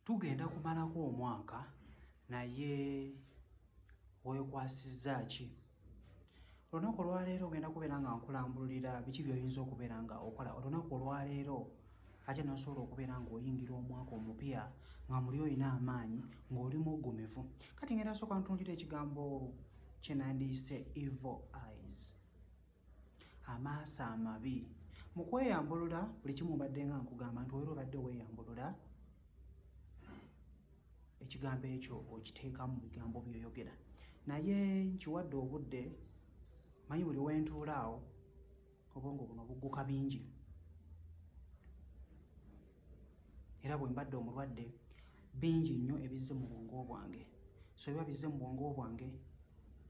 Tugenda kumalako omwaka naye weekwasizza ki? Olunaku olwaleero ogenda kubeera nga nkulambululira biki by'oyinza okubeera nga okola olunaku olwaleero ate n'osobola okubeera ng'oyingira omwaka omupya nga muli olina amaanyi ng'oli muggumivu. Kati ngenda sooka ntunuulira ekigambo kye nandiyise evil eyes. amaaso amabi mu kweyambulula buli kimu mbadde nga nkugamba nti obeera obadde weeyambulula ekigambo ekyo okiteeka mu bigambo byoyogera naye nkiwadde obudde manyi buli wentuula awo obwongo buno bugguka bingi era bwe mbadde omulwadde bingi nnyo ebizze mu bwongo bwange so biba bizze mu bwongo bwange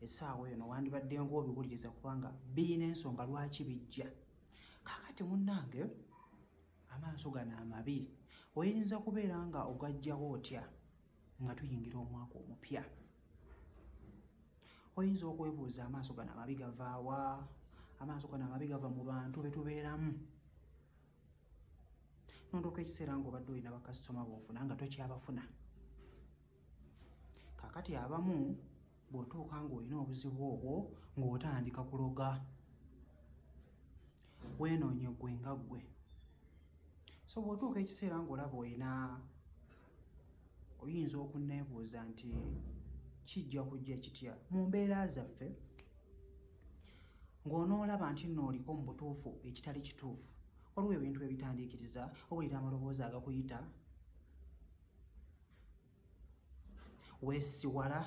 esaawa eyo nowandibadde ngaobiwuliriza kubanga birina ensonga lwaki bijja kakati munnange amaaso gano amabi oyinza kubeera nga ogajjawo otya nga tuyingira omwaka omupya oyinza okwebuuza amaaso gano amabi gavaawa amaaso gano amabi gava mu bantu betubeeramu nondoka ekiseera nga obadde olina bakasitoma bofuna nga tokyabafuna kakati abamu bwotuuka ngaolina obuzibu obwo ngaotandika kuloga wenoonye gwe nga ggwe so bwotuuka ekiseera ngaolaba olina oyinza okunneebuuza nti kijja kujja kitya mu mbeera zaffe ng'onoolaba nti nno oliko mu butuufu ekitali kituufu waliwo ebintu ebitandiikiriza owulira amaloboozi agakuyita weesiwala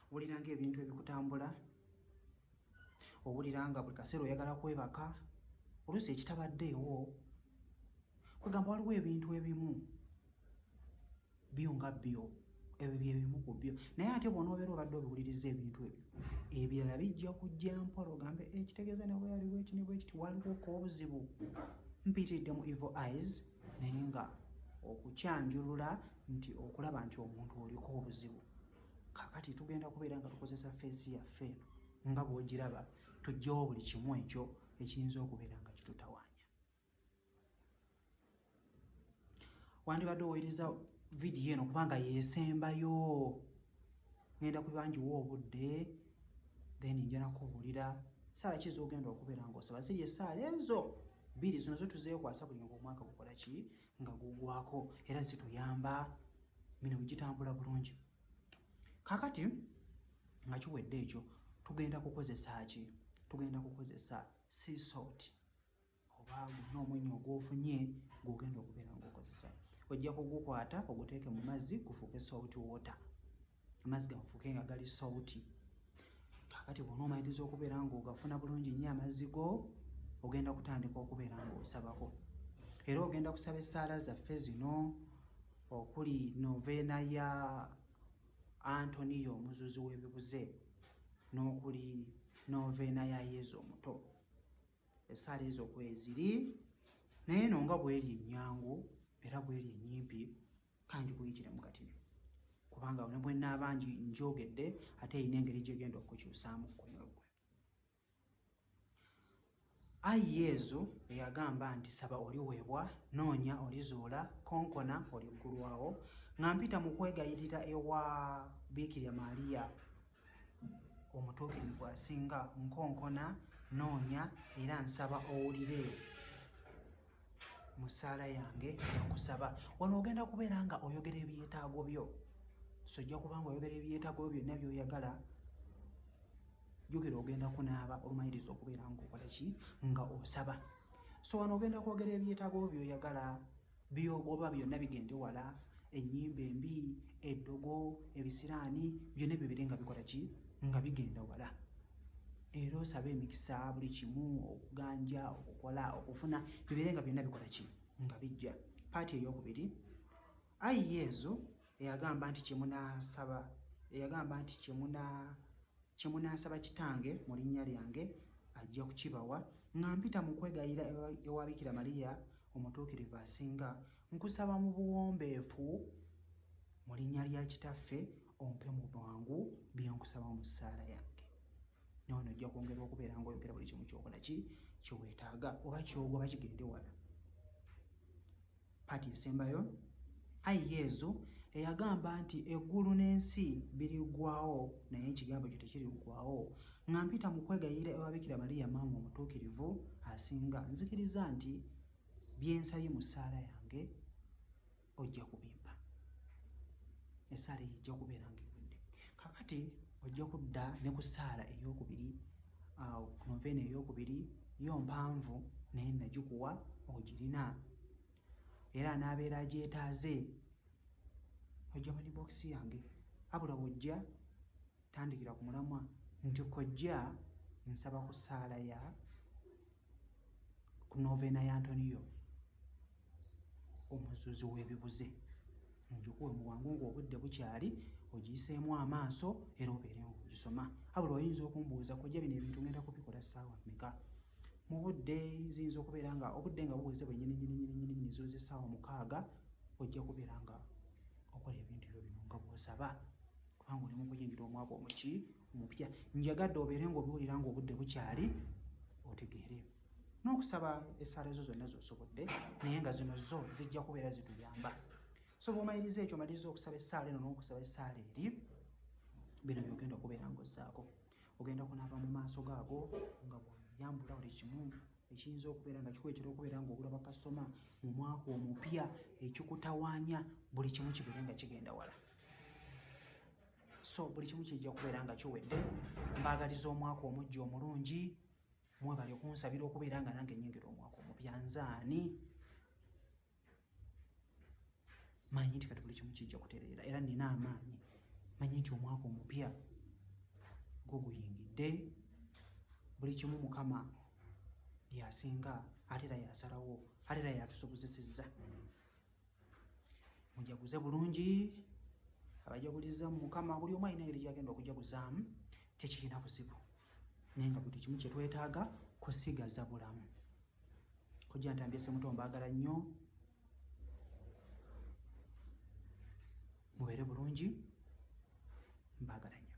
Owulira nga ebintu ebikutambula, owulira nga buli kaseera oyagala kwebaka, oluusi ekitabaddeewo kwegamba waliwo ebintu ebimu byo nga byo ebyo byebimu ku byo naye ate bona obeera obadde obiwuliriza ebintu ebyo ebirala bijja kujja mpola ogambe ekitegeeza eh, nawe yaliwo ekini bwekiti waliwo kobuzibu mpitiddemu evil eyes naye nga okukyanjulula nti okulaba nti omuntu oliko obuzibu kakati tugenda kubeera nga tukozesa feesi yaffe eno nga bwogiraba tugyewo buli kimu ekyo ekiyinza okubeera nga kitutawaanya wandibadde oweereza vidiyo eno kubanga yesembayo ngenda kubangiwa obudde then njana kubuulira saala ki zogenda okubeera ngaosaba ziri esaala ezo bbiri zino zo tuzeekwasa buli ngaomwaka gukola ki nga gugwako era zituyamba mino gitambula bulungi kakati nga kiwedde ekyo tugenda kukozesa ki tugenda kukozesa sea salt oba gulina omwenya ogwofunye gwogenda okubeera ngaokozesa ojja kugukwata oguteeke mu mazzi gufuuke salt water amazzi gafuuke nga gali sauti kakati bona omaliriza okubeera nga ogafuna bulungi nnyo amazzi go ogenda kutandika okubeera nga osabako era ogenda kusaba essaala zaffe zino okuli noveena ya antoniyo omuzuzi w'ebibuze n'okuli noveena ya yezu omuto esaala ezo kweziri naye no nga bweri ennyangu era bweri ennyimpi kanji kuyitira mu katini kubanga ne bwe naaba njogedde ate erina engeri gyegenda okukyusaamu kukoyo gwe ayi yezu eyagamba nti saba oliweebwa noonya olizuula konkona oliggulwawo nga mpita mu kwegayirira ewa biikirya maaliya omutuukirivu asinga nkonkona noonya era nsaba owulire mu ssaala yange okusaba wano ogenda kubeera nga oyogera ebyetaago byo so ojja kuba nga oyogera ebyetaago byo byonna byoyagala jukira ogenda kunaaba olumaliriza okubeera nga okola ki nga osaba so wano ogenda kwogera ebyetaago byo byoyagala byoba byonna bigende wala enyimba embi eddogo ebisiraani byonna byo bire nga bikola ki nga bigenda wala era osaba emikisa buli kimu okuganja okukola okufuna bibeere nga byonna bikola ki nga bijja paati eyokubiri ayi yezu eyagamba nti kyemunasaba eyagamba nti kyemunasaba kitange mu linnya lyange ajja kukibawa nga mpita mu kwegayira ewabikira mariya omutuukirivu asinga nkusaba mu buwombeefu mu linnya lya kitaffe ompe mu bwangu bye nkusaba mu ssaala yange nawe nojja kwongera okubeera nga oyogera buli kimu kyokola ki kyeweetaaga oba kyogwa oba kigende wala paati esembayo ayi yezu eyagamba nti eggulu n'ensi birigwawo naye ekigambo kyo tekirigwawo nga mpita mu kwegayirira ewabikira baliya maama omutuukirivu asinga nzikiriza nti byensabye mu ssaala yange ojja kubimba esaala eyo ejja kubeera nga ewedde kakati ojja kudda ne ku saala eyokubiri awo ku noveena eyokubiri yo mpanvu naye nagikuwa ogirina era anaabeera agyetaaze ojja mani bokisi yange abula bwojja Tandikira ku mulamwa nti kojja nsaba ku saala ya ku novena ya Antoniyo omuzuzi w'ebibuze njukuwe mu bwangu ng'obudde bukyali ogiyiseemu amaaso era obeere ng'ogisoma abula oyinza okumbuuza kojja bino ebintu ngenda kubikola ssaawa meka mu budde ziyinza okubeera nga obudde nga buweze bwenyininyininyininyini zoza essaawa mukaaga ojja kubeera nga okola ebintu byo bino nga bwosaba kubanga oli mukuyingira omwaka omuki omupya njagadde obeere ngaobiwulira nga obudde bukyali otegeere n'okusaba esaala ezo zonna zosobodde naye nga zino zo zijja kubeera zituyamba so bwomaliriza ekyo omaliriza okusaba esaala eno n'okusaba esaala eri bino byogenda okubeera ngaozzaako ogenda kunaaba mu maaso gaago nga bweyambula buli kimu ekiyinza okubeera nga kikuletera okubeera nga ogula bakasitoma mu mwaka omupya ekikutawanya buli kimu kibeere nga kigenda wala so buli kimu kijja kubeera nga kiwedde mbaagaliza omwaka omujja omulungi mwebali okunsabira okubeera nga nange nyingira omwaka omupya nzaani manyi nti kati buli kimu kijja kutereera era nina amaanyi manyi nti omwaka omupya gwo guyingidde buli kimu mukama yasinga ate era yasalawo ate era yatusobozesezza mujaguze bulungi abajaguliza mukama buli omu alina engeri gyagenda okujaguzaamu tekirina buzibu naye nga buli kimu kyetwetaaga kusigaza bulamu kojja ntambye semuto mbaagala nnyo mubeere bulungi mbaagala nnyo